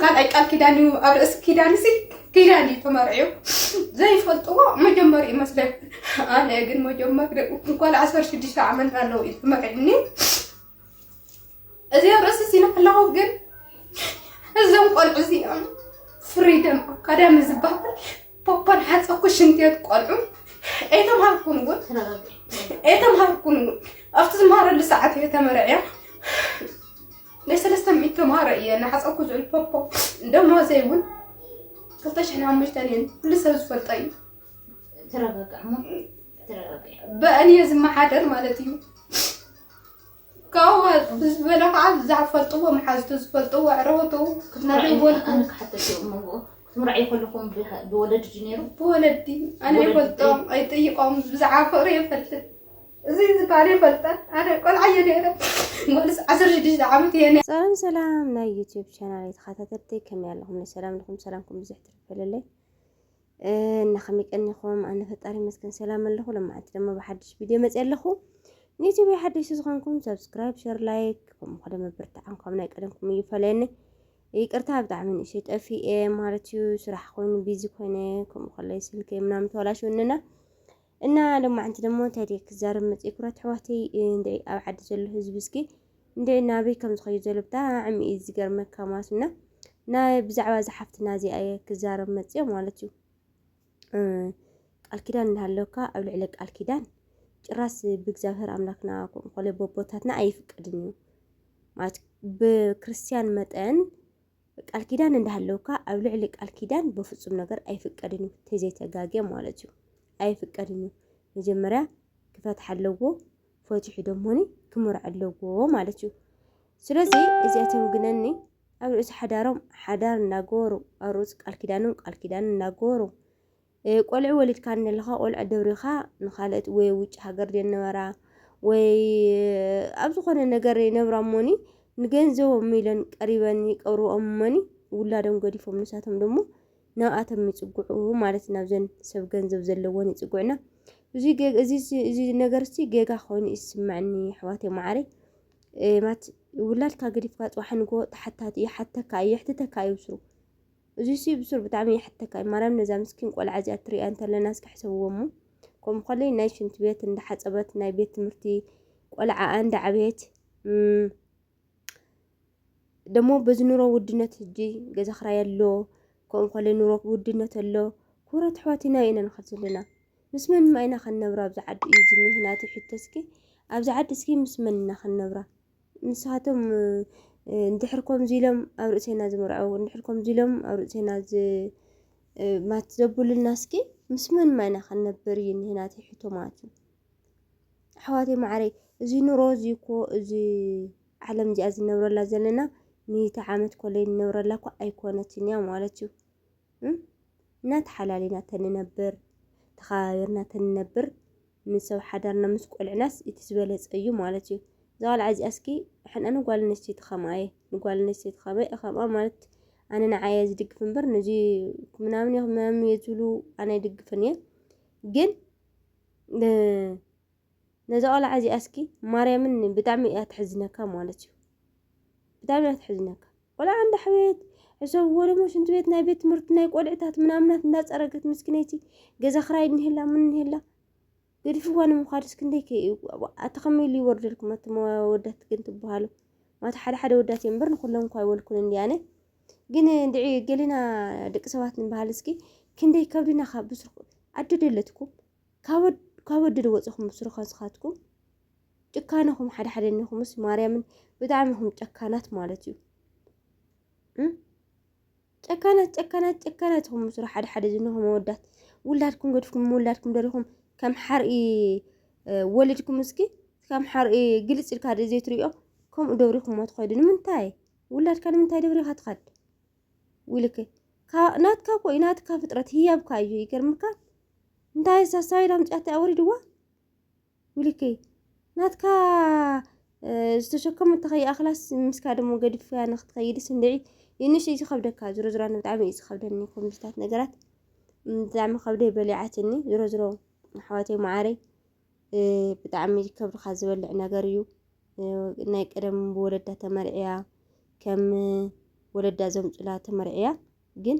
ካልኣይ ቃል ኪዳን እዩ ኣብ ርእሲ ኪዳን ሲ ኪዳን እዩ ተመርዕዮ ዘይፈልጥዎ መጀመሪ እዩ መስለን ኣነ ግን መጀመሪ ጓል ዓሰርተ ሽዱሽተ ዓመት ኣለዉ እዩ ተመርዕኒ እዚ ኣብ ርእሲ ሲነ ከለኹ ግን እዞም ቆልዑ እዚኦም ፍሪደም ኣካዳሚ ዝበሃል ፖፖን ሓፀኩ ሽንትየት ቆልዑ ኣይተምሃርኩን እውን ኣይተምሃርኩን እውን ኣብቲ ዝምሃረሉ ሰዓት እየ ተመርዕያ ናይ ሰለስተ ሚእቲ ተምሃሮ እየ እናሓፀብኩ ዝውዕል ፖፖ ደሞዘይ እውን ክልተ ሽሕን ሓሙሽተን እየን ኩሉ ሰብ ዝፈልጦ እዩ ተረጋጋዕ እሞ ተረጋጋዕ በእን እየ ዝመሓደር ማለት እዩ ካብኡ ብዝበለ ከዓ ዝፈልጥዎ መሓዝቱ ዝፈልጥዎ ዕረወቱ ክትመርዕዎ ኣነ ክሓተት እየ እሞ ክትምርዓይ ከለኹም ብሃ- ብወለዲ ድዩ ነይሩ ብወለዲ ኣነ ብወለዲ? ይፈልጦም ኣይጠይቆም ብዛዕባ ፍቅሪ የፈልጥ እዚ ዝበሃል የፈልጠን ኣነ ቆልዓ እየ ነይረ ጓልስ ዓሰርተ ሽዱሽተ ዓመት እየ ሰላም ሰላም ናይ ዩቲዩብ ቻናል ተኸታተልቲ ከመይ ኣለኹም ሰላም ኣለኹም ሰላምኩም ብዙሕ ትርፈልለይ እና ከመይ ቀኒኹም ኣነ ፈጣሪ ይመስገን ሰላም ኣለኹ ለማዓንቲ ድማ ብሓድሽ ቪድዮ መፅ ኣለኹ ንዩቲዩብ ሓድሽ ዝኾንኩም ሰብስክራይብ ሸር ላይክ ከምኡ ከደ ምብርትዓን ካብ ናይ ቀደምኩም እዩ ፈለየኒ ይቅርታ ብጣዕሚ ንእሽተይ ጠፊኤ ማለት እዩ ስራሕ ኮይኑ ቢዚ ኮይነ ከምኡ ከለይ ስልከይ ምናምን ተበላሽውንና እና ሎማዕንቲ ደሞ እንታይ ድየ ክዛረብ መፅየ ኩራት ኣሕዋተይ እንድዒ ኣብ ዓዲ ዘሎ ህዝቢ እስኪ እንድዒ ናበይ ከም ዝኸዩ ዘሎ ብጣዕሚ እዩ ዝገርመካ ማለት እና ናይ ብዛዕባ እዛ ሓፍትና እዚኣ እየ ክዛረብ መፅየ ማለት እዩ ቃል ኪዳን እናሃለወካ ኣብ ልዕሊ ቃል ኪዳን ጭራስ ብእግዚኣብሔር ኣምላክና ኮለ ቦቦታትና ኣይፍቀድን እዩ ማለት ብክርስትያን መጠን ቃል ኪዳን እንዳሃለውካ ኣብ ልዕሊ ቃል ኪዳን በፍጹም ነገር ኣይፍቀድን እዩ ተዘይተጋገ ማለት እዩ ኣይፍቀድን እዩ መጀመርያ ክፈትሕ ኣለዎ ፈትሑ ደሞኒ ክምርዕ ኣለዎ ማለት እዩ ስለዚ እዚኣቶም ግነኒ ኣብ ርእሲ ሓዳሮም ሓዳር እናገበሩ ኣብ ርእሲ ቃል ኪዳኖም ቃል ኪዳን እናገበሩ ቆልዑ ወሊድካ እንለኻ ቆልዑ ደብሪኻ ንኻልኦት ወይ ኣብ ውጭ ሃገር ዝነበራ ወይ ኣብ ዝኾነ ነገር ይነብራ እሞኒ ንገንዘቦም ኢለን ቀሪበን ይቀብርኦም እሞኒ ውላዶም ገዲፎም ንሳቶም ደሞ ናብኣቶም ይፅግዑ ማለት ናብዘን ሰብ ገንዘብ ዘለወን ይፅግዑና እዚ ነገር እስቲ ጌጋ ኮይኑ ይስምዐኒ ኣሕዋት ማዓረ ማት ውላድካ ገዲፍካ ፅባሕ ንጎ ተሓታቲ ይሓተካ የሕትተካ እዩ ብስሩ እዙይ ሲ ብሱር ብጣዕሚ ይሓተካ እዩ ማርያም ነዛ ምስኪን ቆልዓ እዚኣ ትሪእያ እንተለና እስኪ ሕሰብዎ እሞ ከምኡ ከለይ ናይ ሽንት ቤት እንዳሓፀበት ናይ ቤት ትምህርቲ ቆልዓ እንዳዓበየት ደሞ በዚ ኑሮ ውድነት ህጂ ገዛ ክራይ ኣሎ ከምኡ ከለይ ኑሮ ውድነት ኣሎ ኩብራት ኣሕዋትና ኢና ንኸድ ዘለና ምስ መን ኢና ክንነብራ ኣብዚ ዓዲ እዩ ዝኒሀ ናተይ ሕቶ እስኪ ኣብዚ ዓዲ እስኪ ምስ መን ኢና ክንነብራ ንሳቶም እንድሕር ከምዚ ኢሎም ኣብ ርእሴና ዝምርዐው እንድሕር ከምዚ ኢሎም ኣብ ርእሴና ማት ዘብሉልና እስኪ ምስ መን ማይና ክንነብር እዩ እኒሀ ናተይ ሕቶ ማለት እዩ ኣሕዋተይ ማዕረይ እዚ ኑሮ እዚ እኮ እዚ ዓለም እዚኣ ዝነብረላ ዘለና ሚእቲ ዓመት ኮለይ ንነብረላ እኮ ኣይኮነትን እያ ማለት እዩ እና ተሓላሊና ተንነብር ተኸባቢርና ተንነብር ምስ ሰብ ሓዳርና ምስ ቆልዕናስ እቲ ዝበለፀ እዩ ማለት እዩ እዛ ቆልዓ እዚኣ እስኪ ሕና ንጓል ኣንስተይቲ ከምኣ እየ ንጓል ኣንስተይቲ ከመ ከምኣ ማለት ኣነ ንዓየ ዝድግፍ እምበር ነዚ ምናምን ምናምን እየ ዝብሉ ኣነ ይድግፍን እየ ግን ነዛ ቆልዓ እዚኣ እስኪ ማርያምን ብጣዕሚ እያ ትሕዝነካ ማለት እዩ ብጣዕሚ እያ ትሕዝነካ ቆልዓ እንዳሕበየት ሕሰብ እዎ ደሞ ሽንቲ ቤት ናይ ቤት ትምህርቲ ናይ ቆልዕታት ምናምናት እንዳፀረገት ምስኪነይቲ ገዛ ክራይ እኒሄላ ምን እኒሄላ ገዲፍዋ ንምዃድስ ክንደይ ከ ኣቲ ከመይ ኢሉ ይወርደልኩም ኣቲ ወዳት ግን ትበሃሉ ማታ ሓደ ሓደ ወዳት እዮም እምበር ንኩሎም እኳ ይወልኩን እንዲ ኣነ ግን እንድዒ ገሊና ደቂ ሰባት ንበሃል እስኪ ክንደይ ከብድና ካብ ብስርኩ ኣደደለትኩም ካብ ወደድ ወፅኹም ብስሩ ከንስኻትኩም ጭካነኹም ሓደ ሓደ እኒኹምስ ማርያምን ብጣዕሚ ኹም ጨካናት ማለት እዩ ጨካናት ጨካናት ጨካናት ኹም ምስሩ ሓደ ሓደ ዝኒኹም መወዳት ውላድኩም ገድፍኩም ምውላድኩም ደሪኹም ከም ሓርኢ ወሊድኩም እስኪ ከም ሓርኢ ግልፅ ኢልካ ደ ዘይትሪኦ ከምኡ ደብሪኹሞ ትኸዱ ንምንታይ ውላድካ ንምንታይ ደብሪኻ ትኸድ ውልክ ናትካ እኮ እዩ ናትካ ፍጥረት ህያብካ እዩ ይገርምካ እንታይ ሳሳቢድ ኣምፅያታ ወሪድዋ ዊሊከይ ናትካ ዝተሸከሙ እንተኸይኣኽላስ ምስ ካደሞ ገድፍያ ንክትኸይድስ እንድዒ ይንሽ እዩ ዝኸብደካ ዝሮ ዝሮ ኣነ ብጣዕሚ እዩ ዝኸብደኒ ኮምዚታት ነገራት ብጣዕሚ ከብደይ በሊዓትኒ ዝሮ ዝሮ ኣሕዋተይ መዓረይ ብጣዕሚ ከብድኻ ዝበልዕ ነገር እዩ ናይ ቀደም ብወለዳ ተመርዕያ ከም ወለዳ ዘምፁላ ተመርዕያ ግን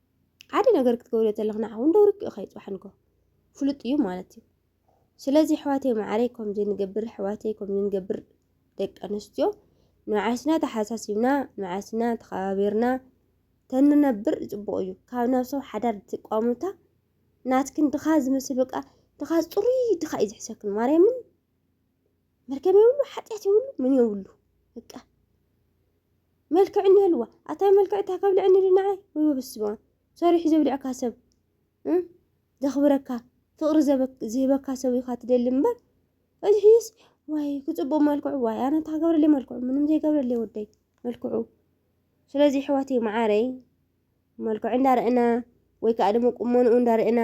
ሓደ ነገር ክትገብሪ ተለኽ ንዓኹ እንዶ ርክኡ ኸይ ጽባሕንኮ ፍሉጥ እዩ ማለት እዩ ስለዚ ኣሕዋተይ ማዕረይ ከምዚ ንገብር ኣሕዋተይ ከምዚ ንገብር ደቂ ኣንስትዮ ንዓስና ተሓሳሲብና ንዓስና ተኸባቢርና ተንነብር ጽቡቕ እዩ ካብ ናብ ሰብ ሓዳር ትቋሙታ ናትክን ድኻ ዝመስል በቃ ድኻ ጽሩይ ድኻ እዩ ዝሕሰክን ማርያምን መርገም የብሉ ሓጢኣት የብሉ ምን የብሉ በቃ መልክዕ እንህልዋ ኣታይ መልክዕ እታ ከብልዕኒ ድናዓይ ወይ በስመ ኣብ ሰሪሑ ዘብልዕካ ሰብ ዘኽብረካ ፍቕሪ ዝህበካ ሰብ ኢኻ ትደሊ እምበር እዚ ሕይስ ዋይ ክፅቡቕ መልክዑ ዋይ ኣነ እንታይ ክገብረለይ መልክዑ ምንም ዘይገብረለይ ወደይ መልክዑ ስለዚ ኣሕዋተይ መዓረይ መልክዑ እንዳርአና ወይ ከዓ ድማ ቁመንኡ እንዳርአና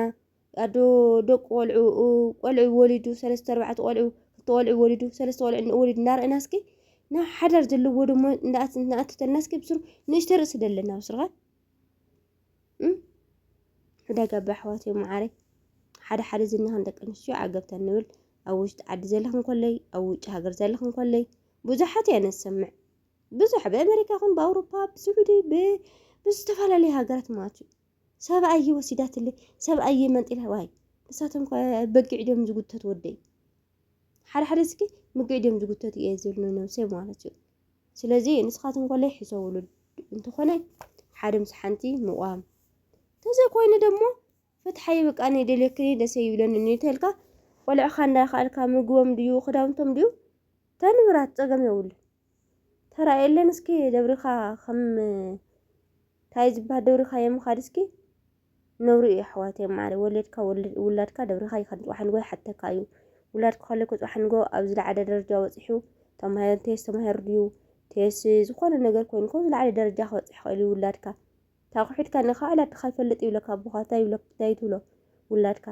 ኣዶ ደቁ ቆልዑ ቆልዑ ወሊዱ ሰለስተ ኣርባዕተ ቆልዑ ክልተ ቆልዑ ወሊዱ ሰለስተ ቆልዑ እንኦ ወሊዱ እናርኣና እስኪ ናብ ሓዳር ዘለዎ ደሞ ንኣቱ ተለና እስኪ ብስሩ ንእሽተ ርእሲ ደለና ብስርኻ ዕዳጋ ኣባ ኣሕዋት እዮም መዓረይ ሓደ ሓደ ዝናኸን ደቂ ኣንስትዮ ዓገብታ ንብል ኣብ ውሽጢ ዓዲ ዘለኽን ኮለይ ኣብ ውጭ ሃገር ዘለኽን ኮለይ ብዙሓት እያ ነሰምዕ ብዙሕ ብኣሜሪካ ኹን ብኣውሮፓ ብስዑዲ ብዝተፈላለዩ ሃገራት ማለት እዩ ሰብኣየይ ወሲዳትለይ ሰብኣየይ መንጢላ ዋይ ንሳቶም ከ በጊዕ ድዮም ዝጉተት ወደይ ሓደ ሓደ ስኪ ምግዕ ድዮም ዝጉተት እየ ዝብል ንነብሰይ ማለት እዩ ስለዚ ንስኻትኩም ኮለይ ሕሰብሉ እንተኾነ ሓደ ምስ ሓንቲ ምቋም ተዘይኮይኑ ደሞ ፍትሓይ በቃ እኔ ደልየክኒ ደሰ ይብለኒ እንተልካ ቆልዕኻ እንዳኸኣልካ ምግቦም ድዩ ክዳውንቶም ድዩ ተንብራት ፀገም የብሉ ተራእየለን እስኪ ደብሪኻ ከም ታይ ዝበሃል ደብሪኻዮ ምኻድ እስኪ ነውሪ እዩ ኣሕዋተይ ማዕረ ወለድካ ውላድካ ደብሪኻ ይኸድ ፅባሕ ንጎ ይሓተካ እዩ ውላድካ ከለኩ ፅባሕ ንጎ ኣብ ዝለዓለ ደረጃ በፂሑ ተማሂሩ እንተየስ ተማሂሩ ድዩ እንተየስ ዝኾነ ነገር ኮይኑ ካብ ዝለዓለ ደረጃ ክበፅሕ ይኽእል እዩ ውላድካ ታቑሒድካ ንኻ ዕላድካ ይፈልጥ ይብለካ ኣቦኻ ታይ ይብለካ ታይ ትብሎ ውላድካ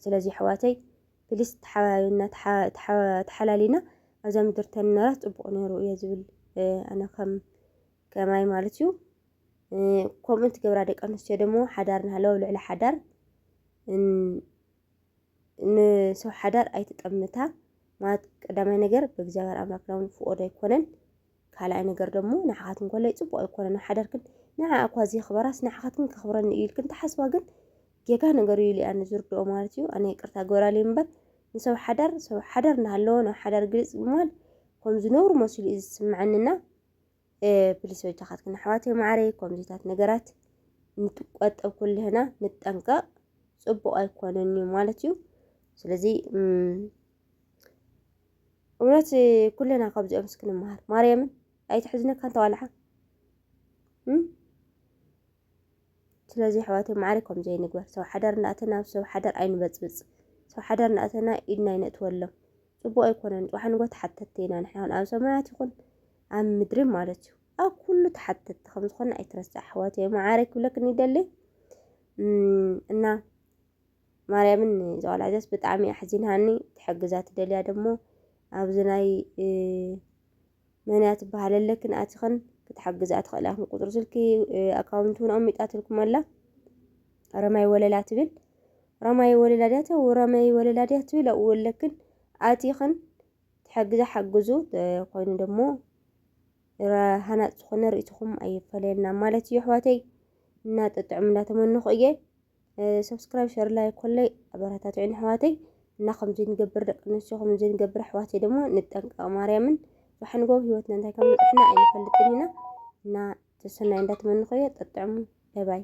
ስለዚ ኣሕዋተይ ፕሊስ ተሓባቢና ተሓላሊና ኣብዛ ምድር ተንነራት ፅቡቅ ነይሩ እየ ዝብል ኣነ ከም ከማይ ማለት እዩ ከምኡ ትገብራ ደቂ ኣንስትዮ ደሞ ሓዳር ናሃለዎ ኣብ ልዕሊ ሓዳር ንሰብ ሓዳር ኣይትጠምታ ማለት ቀዳማይ ነገር ብእግዚኣብሔር ኣምላክና እውን ፍቆዶ ኣይኮነን ካልኣይ ነገር ደሞ ንዓኻትኩም ኮለይ ጽቡቕ ኣይኮነን ኣብ ሓዳርክን ንዓኣ እኳ ዘየኽበራስ ንዓኻትክን ከኽብረኒ እዩ ኢልክን ትሓስባ ግን ጌጋ ነገር እዩ ኢለ ኣነ ዝርድኦ ማለት እዩ ኣነ ይቅርታ ግበራለይ እምበር ንሰብ ሓዳር ሰብ ሓዳር እናሃለወ ናብ ሓዳር ግልጽ ብምባል ከም ዝነብሩ መሲሉ እዩ ዝስምዐንና ፕሊስ በጃኻትክን ኣሕዋተይ ማዕረይ ከምዚታት ነገራት ንትቆጠብ ኩልህና ንጠንቀቕ ጽቡቕ ኣይኮነን እዩ ማለት እዩ ስለዚ እውነት ኩለና ካብዚኦም ስክንመሃር ማርያምን ኣይትሕዝነካ እንተዋልሓ ስለዚ ኣሕዋተይ ማዕረ ከም ዘይንግበር ሰብ ሓዳር እንዳእተና ኣብ ሰብ ሓዳር ኣይንበፅብፅ ሰብ ሓዳር እንዳእተና ኢድና ኣይነእትወሎም ፅቡቅ ኣይኮነን ፅባሕ ንጎ ተሓተትቲ ኢና ንሕና ውን ኣብ ሰማያት ይኹን ኣብ ምድሪ ማለት እዩ ኣብ ኩሉ ተሓተትቲ ከም ዝኾነ ኣይትረስዕ ኣሕዋተይ ማዕረ ክብለክን ይደሊ እና ማርያምን እዛ ቆልዓ እዚኣስ ብጣዕሚ ኣሕዚናኒ ትሕግዛ ትደልያ ደሞ ኣብዚ ናይ መንያ ትበሃል ኣለክን ኣትኽን ክትሓግዝኣ ትኽእል ኢኹም ቁፅሪ ስልኪ ኣካውንት እውን ኣሚጣትልኩም ኣላ ረማይ ወለላ ትብል ረማይ ወለላ ድያ ተው ረማይ ወለላ ድያ ትብል ኣብኡ ኣለክን ኣቲኽን ትሕግዛ ሓግዙ ኮይኑ ደሞ ሃናፅ ዝኾነ ርእይትኹም ኣይፈለየና ማለት እዩ ኣሕዋተይ እና ጥጥዑም እንዳተመንኹ እየ ሰብስክራይብ ሸር ላይ ኮለይ ኣበረታትዑን ኣሕዋተይ እና ከምዚ ንገብር ደቂ ኣንስትዮ ከምዚ ንገብር ኣሕዋተይ ደሞ ንጠንቀቕ ማርያምን ብሓንጎ ህይወትና እንታይ ከም ዝጥሕና ኣይንፈልጥን ኢና እና ተሰናይ እንዳትመንኸዮ ጠጥዕሙ ባይ ባይ